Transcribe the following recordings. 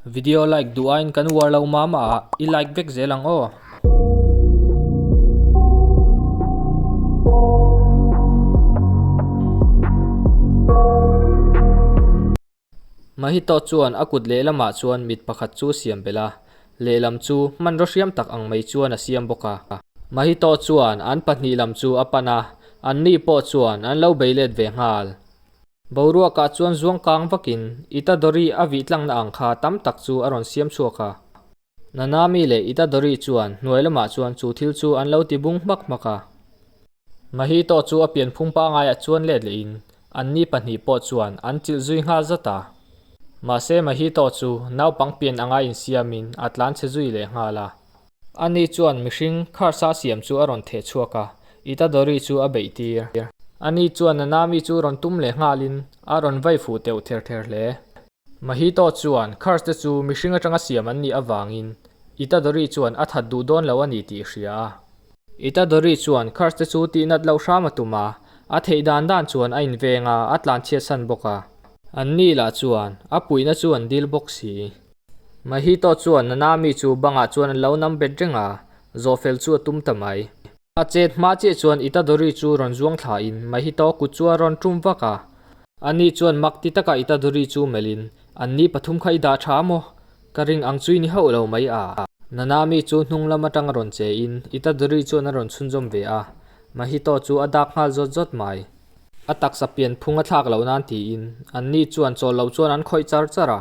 Video like duh aiin kan uar lo mama ah i like vek zel ang aw. Mahito chuan a kut lehlamah chuan mit pakhat chu siam bela lehlam chu hmanraw hriam tak ang mai chuan a siam bawk a. Mahito chuan an pahnih lam chu a pan a, anni pawh chuan an lo bei let ve nghal. Boruakah chuan zuang kang vakin Ita Dori a vih tlangna ang kha tam tak chu a rawn siam chhuak a. Nanami leh Ita Dori chuan hnuai lamah chuan chu thil chu an lo ti bung hmak hmak a. Mahito chu a pianphung pangngaia chuan let leh in anni pahnih pawh chuan an chilh zui nghal zat a. Mahse Mahito chu naupang pian anga insiam in a tlan chhe zui leh nghal a. Ani chuan mihring kharsa siam chu a rawn theh chhuak a, Itadori chu a beih tir. Ani chuan Nanami chu rawn tum leh nghal in a rawn vai fuh teuh ther ther hle. Mahito chuan khars te chu mihring atanga siam an nih avang in Itadori chuan a that duh dawn lo a ni tih hria a. Itadori chuan khars te chu tih nat loh hram a tum a, a theih dan dan chuan a inveng a, a tlanchhiat san bawk a. Anni lah chuan a puihna chu an dil bawk si. Mahito chuan Nanami chu bangah chuan an lo nam bet reng a, Zofel chu a tum ta mai. A chet hma chiah chuan Itadori chu rawn zuang thla in Mahito kut chu a rawn tum vak a. Ani chuan mak ti taka Itadori chu melh in, Anni pathum kha i dah tha maw? Ka ring ang chu i ni hauh lo mai a. Nanami chu hnunglam atang a rawn che in Itadori chuan a rawn chhunzawm ve a, Mahito chu a dak nghal zawt zawt mai. A taksa pian phung a thlak loh nan tiin Anni chuan chawlh loh chuan an khawih char char a.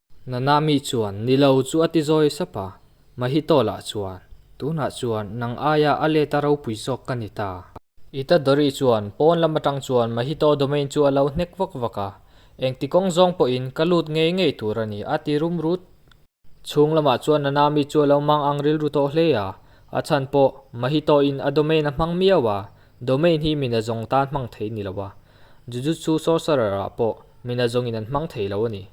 Nana mi chuan, Ni lo chu a ti zawi sap a, Mahitawla chuan, Tunah chuan nang aia a let a ropui zawk ka ni ta. I ta Dori chuan, Pawn lam atang chuan Mahitaw domain chu a lo hnek vak vak a, engti kawng zawng pawhin ka lut ngei ngei tur a ni, a ti rum rut. Chhung lamah chuan Nana mi chu a lo mang ang rilru tawh hle a, a chhan pawh Mahitaw in a domain a hmang miau a, domain hi mina zawng tan hmang thei ni lo a, Jujutsu Sorcerer-ah pawh mina zawngin an hmang thei lo a ni.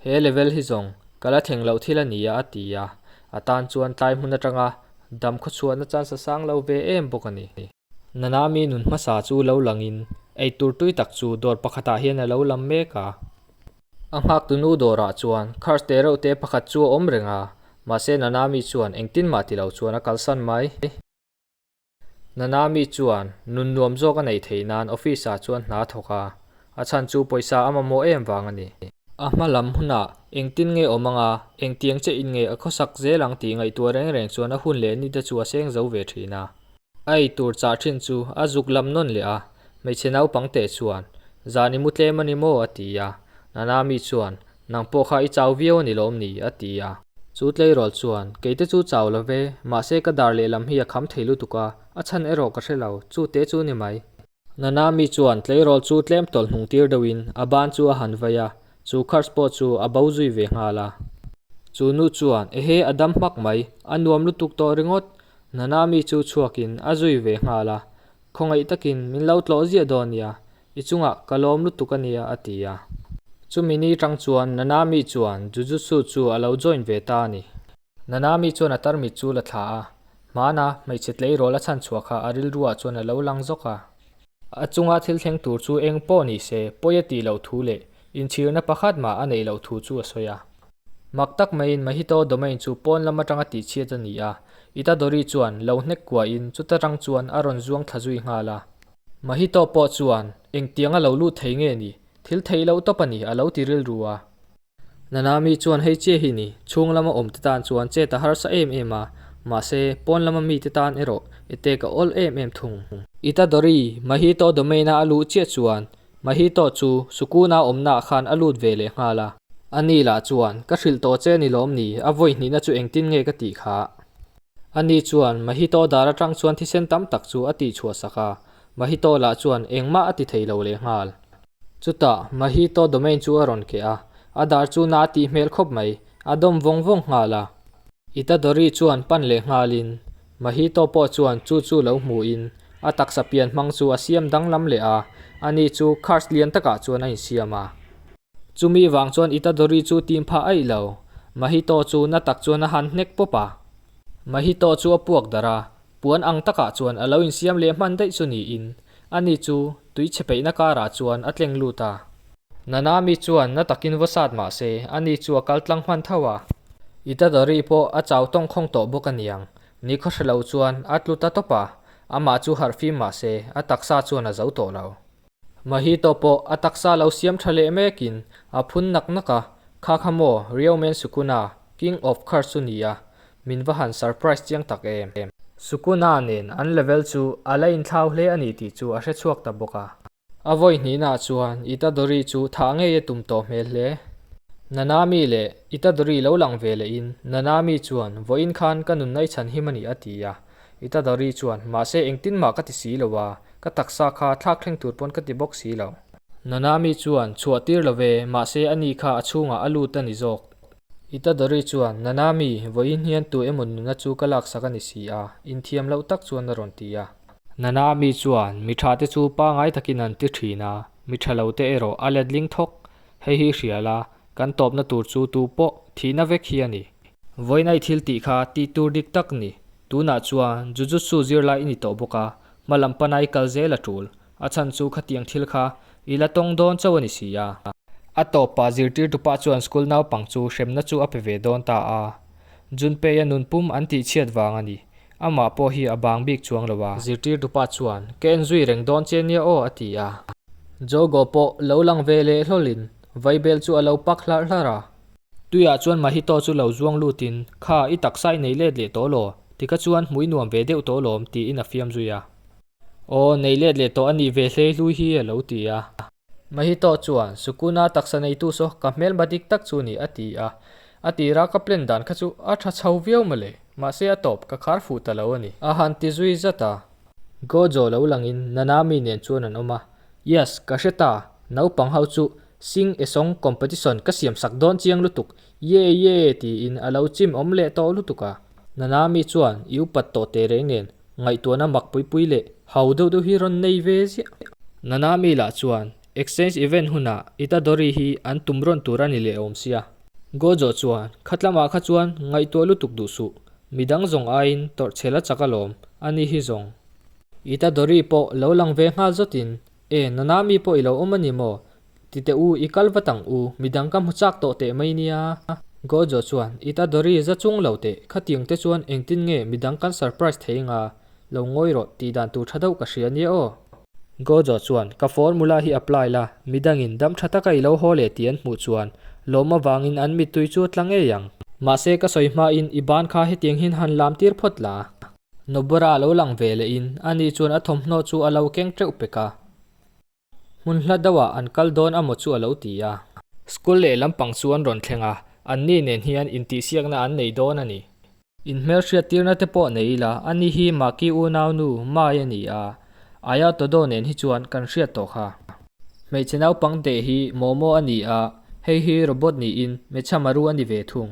He level hi zawng ka la thleng loh thil a ni a, a ti a. A tan chuan tlai hmun atanga dam khawchhuahna chance a sang lo ve em bawk a ni. Nanami nun hmasa chu lo langin eitur tui tak chu dawr pakhatah hian a lo lam mek a. A nghak tunu dawrah chuan kharh teh reuh te pakhat chu a awm reng a, mahse Nanami chuan engtin mah ti lo chuan a kalsan mai. Nana mi chuan nun nuam zawk a nei thei nan office ah chuan hna thawk a, a chhan chu pawisa a mamawh em vang a ni. A hma lam hunah engtin nge awm anga, engtiang che in nge a khawsak zel ang tih ngaihtuah reng reng chuan a hun leh ni te chu a seng zo ve thin a. A eitur chah thin chu a zuk lam nawn leh a, Hmeichhe naupang te chuan, Zan i mu tlem a ni maw? a ti a. Nana mi chuan, Nang pawh kha i chau viau a ni lawm ni? a ti a. Chu Tleirawl chuan, Keite chu chau lo ve, mahse ka dar lehlam hi a kham thei lutuk a, a chhan erawh ka hre lo, chu te chu ni mai? Nana mi chuan Tleirawl chu tlem tawlh hnung tir deuh in a ban chu a han vaih a, chu Kars pawh chu a bo zui ve nghal a. Chu nu chuan, Ehe, a dam hmak mai, a nuam lutuk tawh ringawt! Nana mi chu chhuak in a zui ve nghal a, Khawngaih takin min lo tlawh ziah dawn nia, i chungah ka lawm lutuk a nia, a ti a. Chumi ni tang chuan Nanami chuan Jujutsu chu a lo join ve ta a ni. Nanami chuan a tarmit chu la thlah a, hmana hmeichhe tleirawl a chhan chhuah kha a rilruah chuan a lo lang zawk a. A chunga thil thleng tur chu eng pawh ni se, pawi a tih loh thu leh Inchhirna pakhat mah a neih loh thu chu a sawi a. Mak tak maiin Mahito domain chu pawn lam atanga tihchhiat a ni a, Itadori chuan lo hnek kuahin chuta tang chuan a rawn zuang thla zui nghal a. Mahito pawh chuan, Engtiang a lo lut thei nge ni? Thil theih loh tawp a ni, a lo ti rilru a. Nanami chuan hei che hi ni, chhung lama awmte tan chuan chet a harsa em em a, mahse, pawn lama mite tan erawh etek a awl em em thung. Itadori, Mahito domain-a a luh chiah chuan, Mahitawh chu Sukuna awmnaah khan a lut ve leh nghal a. A ni lah chuan, Ka hrilh tawh che ni lawm ni, a vawihnihna chu engtin nge ka tih kha? A ni chuan, Mahitawh dar atang chuan thisen tam tak chu a tihchhuah sak a, Mahitawh lah chuan engmah a ti thei lo leh nghal. Chutah, Mahitawh domain chu a rawn keh a, a dar chu na a tih hmel khawp mai, a dawm vawng vawng nghal a. Itadori chuan pan leh nghalin, Mahito pawh chuan chu chu lo hmuh in a taksa pian hmang chu a siam danglam leh a, a ni chu kharch lian takah chuan a insiam a. Chu mi vang chuan Itadori chu tim phah aih lo, Mahito chu na tak chuan a han hnek pawp a. Mahito chu a puak darh a, puan ang takah chuan a lo insiam leh hman daih chu niin a ni chu Tui chhe peihna karah chuan a tleng lut a. Nana mi chuan na takin va sat mah se, a ni chu a kal tlang hman tho a. I Tadori pawh a chau tawng khawng tawh bawk a niang. Ni khaw hre lo chuan a tlu ta tawp a, amah chu harh fim mah se, a taksa chuan a zo tawh lo. Mahito pawh a taksa lo siam tha leh mek in a phun nak nak a, Kha kha maw, Ryomen Sukuna, King of Curse chu nia, Min va han surprise chiang tak em. Sukuna nen an level chu a la in thlau hle a ni tih chu a hre chhuak ta bawk a. A vawihnihna chuan Itadori chu thah ngei a tum tawh hmel hle. Nanami leh Itadori lo lang ve leh in Nanami chuan vawiin khan ka nun nai chhan him a ni a ti a. Itadori chuan mahse engtin mah ka ti si lo a, ka taksa kha thlak thleng tur pawn ka ti bawk si lo. Nanami chuan chhuah tir lo ve mahse ani kha a chhungah a lut a ni zawk I Tadori chuan, Nana mi, vawiin hian tu emaw nuna chu ka laksak a ni si a, inthiam loh tak chuan a rawn ti a. Nana mi chuan, Mi tha te chu pangai takin an ti thin a, mi tha lo te erawh a letling thawk, hei hi hrial a, kan tawpna tur chu tu pawh thihna vek hi a ni. Vawiina i thil tih kha tih tur dik tak ni, tunah chuan Jujutsu zirlai i ni tawh bawk a, hmalam pana i kal zel a tul. A chhan chu khatiang thil kha i la tawng dawn chauh a ni si a. A tawpah zirtirtu pa chuan school naupang chu hremna chu a pe ve dawn ta a, Junpeia nunpum an tih chhiat vang a ni, amah pawh hi a bang bik chuang lo a. Zirtirtu pa chuan, Ka en zui reng dawn che nia aw, a ti a. Jogo pawh lo lang ve leh hlawlhin vaibel chu a lo pak hlar hlar a. Tuiah chuan Mahito chu lo zuang lutin, Kha, i taksa i nei let leh tawh law, ti kha chuan hmui nuam ve deuh tawh lawm, tiin a fiam zui a. Aw, neih let leh tawh a nih ve hle hlui hi, a lo ti a. Mahito chuan, Sukuna taksa neitu saw ka hmelma dik tak chu ni, a ti a. A tir a, ka plan dan kha chu a tha chho viau mawle, mahse a tawp ka khar fuh ta lo a ni. A han ti zui zat a. Gojo lo langin, Nanami nen chuan an awm a. Yes, ka hre ta, naupang ho chu sing-a-song competition ka siam sak dawn chiang lutuk, Ye ye tiin a lo chim awm leh tawh lutuk a, Nana mi chuan i upat tawh teh reng nen, ngaihtuahna mak pui pui leh hau deuh deuh hi rawn nei ve ziah. Nana mi lah chuan exchange event hunah Itadori hi an tum rawn tur a ni leh awm sia. Gojo chuan khatlamah kha chuan ngaihtuah lutuk duh suh, midang zawng aiin tawrh chhel a chak alawm, ani hi zawng. Itadori pawh lo lang ve nghal zawt in E, nana mi pawh i lo awm a ni maw? ti teh u, i kal vat ang u, midang ka hmu chak tawh teh mai nia. Gojo chuan, I ta Dory za chung lo teh, khatiang te chuan engtin nge midang kan surprise thei anga, lo ngawi rawh, tih dan tur tha deuh ka hria nia aw. Gojo chuan, Ka formula hi apply la, midangin dam tha taka i lo haw leh tih an hmuh chuan, lawm avangin an mittui chu a tla ngei ang. Mahse, ka sawi hmain i ban kha hetiangin han lam tir phawt la. Nobora lo lang ve leh in a ni chuan a thawmhnaw chu a lo keng teuh pek a, hmun hla deuh ah an kal dawn a maw chu a lo ti a. School leh lampang chu an rawn thleng a, an ni nen hian intihsiak na an nei dawn a ni. In hmelhriat tir na te pawh nei ila, a ni hi Maki unau nu Mai a ni a, Aia Todo nen hi chuan kan hriat tawh kha. Hmeichhe naupang deh hi Momo a ni a, hei hi robot ni in Mechamaru a ni ve thung.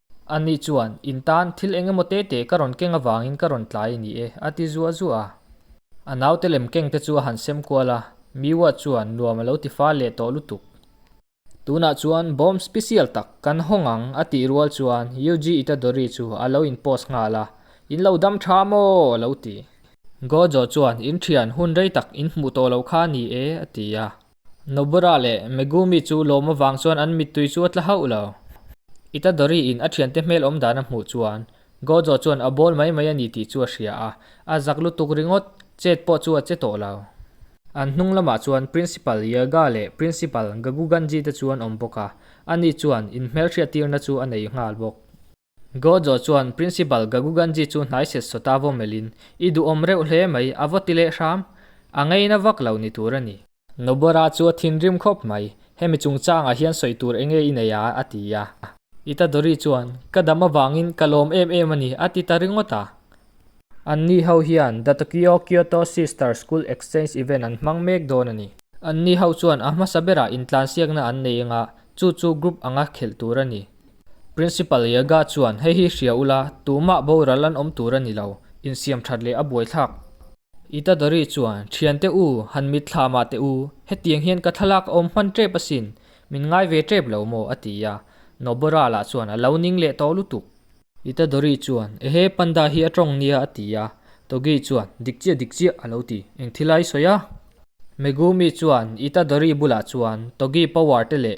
A ni chuan, In tan, thil eng emaw te te ka rawn keng avangin ka rawn tlai a ni e, a ti zuah zuah a. A naute lem keng te chu a han sem kual a, Miwa chuan nuam a lo ti fâl leh tawh lutuk. Tunah chuan bomb special tak kan hawng ang, a tih rual chuan Yuji Itadori chu a lo in post nghal a, In lo dam ṭha maw? a lo ti. Gojo chuan, In ṭhian, hun rei tak in hmuh tawh lo kha a ni e, a ti a. Nobura leh Megumi chu lawm avang chuan an mittui chu a tla hauh lo. Itadori-in a thiante hmelawm dan a hmuh chuan Gojo chuan a bawl mai mai a ni tih chu a hria a, a zak lutuk ringawt, chet pawh chu a che tawh lo. An hnung lamah chuan Principal Yaga leh Principal Gaguganji te chu an awm bawk a, ani chuan inhmelhriat tirna chu a nei nghal bawk. Gojo chuan Principal Gaguganji chu hnai set saw ta vaw melhin, I duhawm reuh hle mai, a vaw ti leh hram? A ngeina vak lo ni tur a ni. Nobora chu a thinrim khawp mai, hemi chungchangah hian sawi tur enge i nei a? a ti a. Itadori chuan, Ka dam avangin ka lawm em em a ni, a ti ta ringawt a. Anni ho hian The Tokyo Kyoto Sister School Exchange Event an hmang mek dawn a ni. Anni ho chuan a hmasa berah intlansiakna an nei anga chu chu group anga khelh tur a ni. Principal Yaga chuan, Hei hi hria ula, tumah boral an awm tur a ni lo, insiam that leh a buaithlak. Itadori chuan, Thian teh u, han mitthla mah teh u, hetiang hian ka thlalak a awm hman tep asin, min ngai ve tep lo maw? a ti a, Noborala chuan a lo ning leh tawh lutuk. Itadori chuan, Ehe, panda hi a tawng nia, a ti a, Togi chuan, Dik chiah dik chiah, a lo ti, eng thil ai sawi a? Megumi chuan Itadori bulah chuan Togi power te leh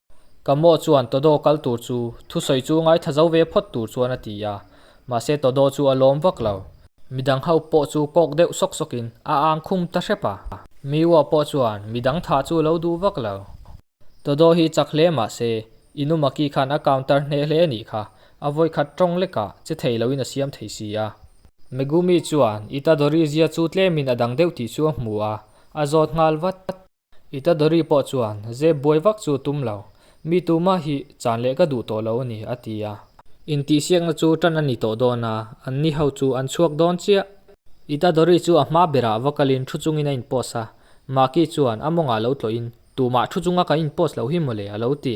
Kamaw chuan Tawdaw kal tur chu thusawi chu ngaitha zo ve phawt tur chuan a ti a, mahse Tawdaw chu a lawm vak lo. Midang ho pawh chu kawk deuh sawk sawkin a ang khum ta hrep a. Miwa pawh chuan midang tha chu lo duh vak lo. Tawdaw hi chak hle mahse In u Maki khan a counter hneh hle anih kha, a vawikhat tawng lekah che thei loin a siam thei si a. Megumi chuan Itadori zia chu tlemin a dang deuh tih chu a hmu a, a zawt nghal vat. I Tadori pawh chuan zep buai vak chu a tum lo. Mi tuma hi chan leh ka duh tawh lo a ni, a ti a. Intihsiakna chu tan a ni tawh dawn a, an ni ho chu an chhuak dawn chiah. I Tadori chu a hma berah va kalin thu chungin a inpost a. Maki chuan a mawngah lo tlawihin, Tumah thu chunga kan inpost loh hi mawle, a lo ti.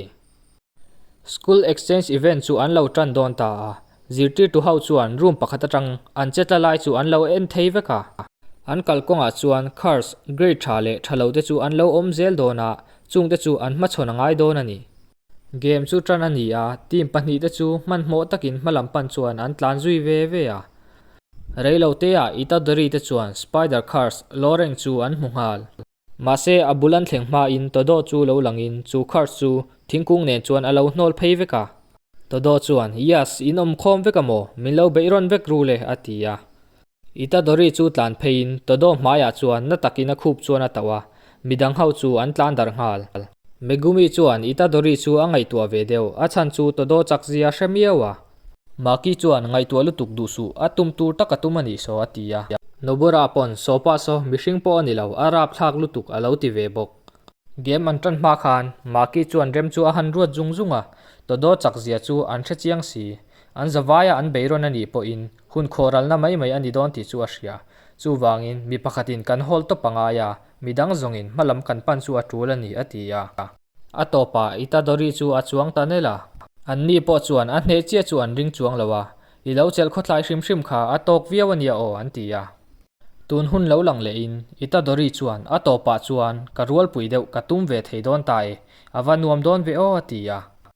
School exchange event chu an lo tan dawn ta a, zirtirtu ho chuan room pakhat atang an che tla lai chu an lo en thei vek a. An kal kawngah chuan cars grade tha leh tha lo te chu an lo awm zel dawn a, chung te chu an hmachhawn a ngai dawn a ni. Game chu tan a ni a, team pahnih te chu hmanhmawh takin hma lam pan chuan an tlan zui ve ve a. Reilote-ah Itadori te chuan Spider Cars, Loreng chu an hmu nghal. Mahse, a bul an thleng hmain Todo chu lo langin chu Kurt chu thingkung nen chuan a lo hnawl phei vek a. Todo chuan, Yes, in awm khawm vek a maw? Min lo beih rawn vek ru le? a ti a. Itadori chu tlan pheiin Todo hmaiah chuan na takin a khup chuan a tauh a, mi dang ho chu an tlan dar nghal. Megumi chuan Itadori chu a ngaihtuah ve deuh, a chhan chu Todo chakzia hre miau a. Maki chuan ngaihtuah lutuk duh suh, a tum tur taka tum a nih saw a ti a. Nobura pawn saw pah saw mihring pawh a ni lo, a rapthlak lutuk a lo ti ve bawk. Game an tan hma khan Maki chuan rem chu a han ruat zung zung a, Todo chak zia chu an hre chiang si, an zavaia an bei rawn a nih pawhin hun khawralna mai mai a ni dawn tih chu a hria. Chuvangin mi pakhatin kan hawl tawp a ngai a, midang zawngin hma lam kan pan chu a tul a ni a ti a. A tawpa i ta Dory chu a chuang ta nelh a. Anni pawh chuan a hneh chiah chu an ring chuang lo a, i lo chelh khawtlai hrim hrim kha a tawk viau a nia aw an ti a. Tun hun lo lang leh in i ta Dory chuan a tawpa chuan ka rualpui deuh ka tum ve thei dawn ta e, a va nuam dawn ve aw a ti a.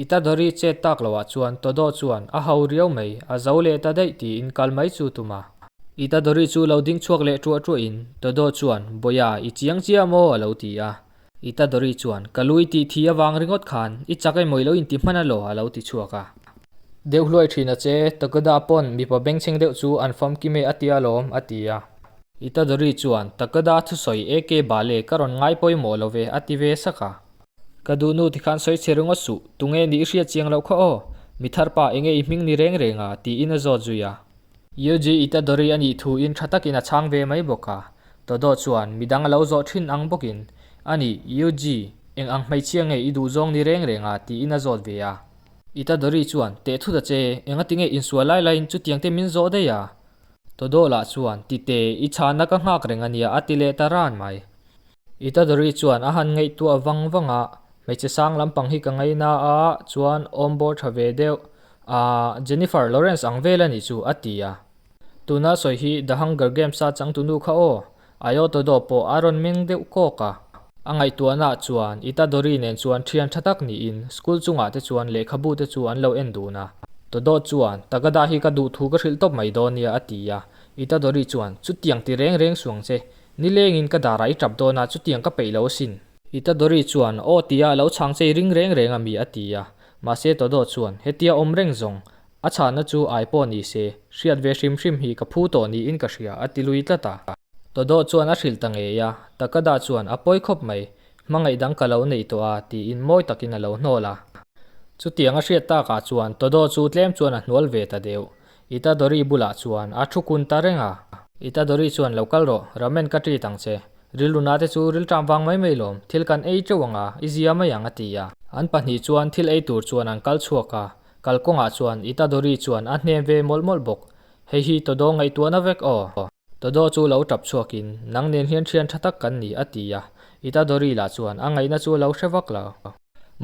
I ta Dori chet tak lo ah chuan Todo chuan a hau riau mai, a zo leh ta daih tiin kal mai chu tum a. I ta Dori chu lo ding chhuak leh ṭuah ṭuah in Todo chuan Bawia i chiang chiah maw a lo ti a. I ta Dori chuan ka lui tih thi avang ringawt khan i chak emaw i lo inti hman a law a lo ti chhuak a. Deuh hluai ṭhin a che Takada pawn mipa bengchheng deuh chu an fam kim e a tia lawm a ti a. I ta Dori chuan Takada thusawi eke bale ka rawn ngai pawimawh lo ve a ti ve sak a. Ka duhnu tikhan sawi che ringawt suh, tunge nih i hriat chiang loh kha aw, mi thar pa enge i hming ni reng reng a, tiin a zawt zui a. Yogi i ta Dori a nih thuin tha takin a chhang ve mai bawk a, Dodo chuan midang a lo zawh thin ang bawkin, A ni, Yogi, eng ang hmeichhia nge i duh zawng ni reng reng a, tiin a zawt ve a. I ta Dori chuan, Teh thut a che, enga tinge in sual lai laiin chutiang te min zawh daih a? Dodo lah chuan, Tite, i chhahna ka nghak reng a nia, a ti leh ta ran mai. I Tadri chuan a han ngaihtuah vang vang a, Hmeichhe sang lampang hi ka ngaih na a chuan awm bawr tha ve deuh a, Jennifer Lawrence ang vel a nih chu, a ti a. Tuna sawi hi The Hunger Games-a changtunu kha aw, Ayotodo pawh a rawn meng deuh kawk a. A ngaihtuahna chuan i Tadri nen chuan thian tha tak niin school chungah te chuan lehkhabu te chu an lo en dun a. Todo chuan, Tagada hi ka duh thu ka hrilh tawp mai dawn nia, a ti a. I Tadri chuan, Chutiang ti reng reng suang che, Nilengin ka darah i tap dawn a, chutiang ka peih lo asin. I Tadori chuan, Aw tia, lo chhangchei ring reng reng a mi a ti a. Mahse Todo chuan, Hetia awm reng zawng. A chhahna chu ai pawh ni se, hriat ve hrim hrim hi ka phu tawh niin ka hria, a ti lui tlat a. Todo chuan a hrilh ta ngei a, Takada chuan a pawi khawp mai, Hmangaih dang ka lo neih tawh a, tiin mawi takin a lo hnawl a. Chutiang a hriat takah chuan Todo chu tlem chuan a hnual ve ta deuh. I ta Dori bulah chuan a thu kun ta reng a. I ta Dori chuan lo kal rawh, Ramen ka treat ang che. Rilruna te chu riltram vang mai mai lawm, thil kan ei teuh ang a, i zia mai ang a ti a. An pahnih chuan thil ei tur chuan an kal chhuak a, kal kawngah chuan I ta Dori chuan a hnem ve mawlh mawlh bawk. Hei hi Todaw ngaihtuah na vek aw. Todaw chu lo tap chhuak in, nang nen hian thian tha tak kan ni a ti a, I ta Dori lah chuan a ngaihna chu a lo hre vak lo.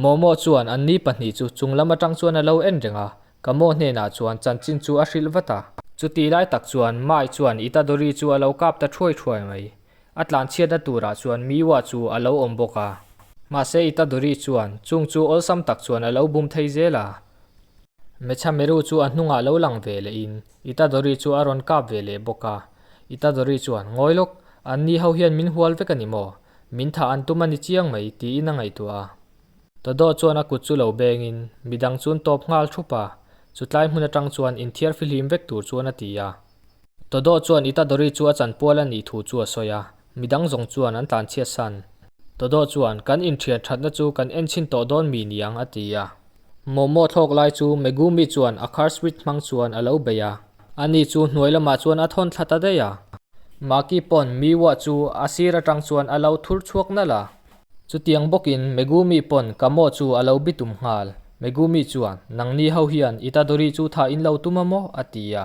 Mawmawh chuan an ni pahnih chu chunglam atang chuan a lo en reng a, Kamo hnenah chuan chanchin chu a hrilh vat a. Chuti lai tak chuan Mai chuan Itadori chu a lo kap ta thuai thuai mai. A tlanchhiatna turah chuan Miwa chu a lo awm bawk a. Mahse Itadori chuan chung chu awlsam tak chuan a lo bum thei zel a. Mechameru chu a hnungah lo lang ve lehin Itadori chu a rawn kap ve leh bawk a. Itadori chuan, Ngawi lawk, anni ho hian min hual vek a ni maw? Min thah an tum a ni chiang mai, tiin a ngaihtuah a. Dodo chuan a kut chu lo bengin, Midang chu'n tawp nghal thup a, chutlai hmun atang chuan in thiar fihlim vek tur chuan a ti a. Dodo chuan Itadori chu a chan pual a nih thu chu a sawi a, midang zawng chuan an tlanchhiat san. Dodo chuan, Kan inthian thatna chu kan en chhin tawh dawn mi niang a ti a. Momo thlawk lai chu Megumi chuan a car switch hmang chuan a lo bei a, a ni chu hnuai lamah chuan a thawn thla ta daih a. Maki pawn Miwa chu a sir atang chuan a lo thur chhuak nalh a, Chutiang bawkin Megumi pawn Kamo chu a lo bi tum nghal. Megumi chuan, Nangni ho hian Itadori chu tha in lo tum a maw? a ti a.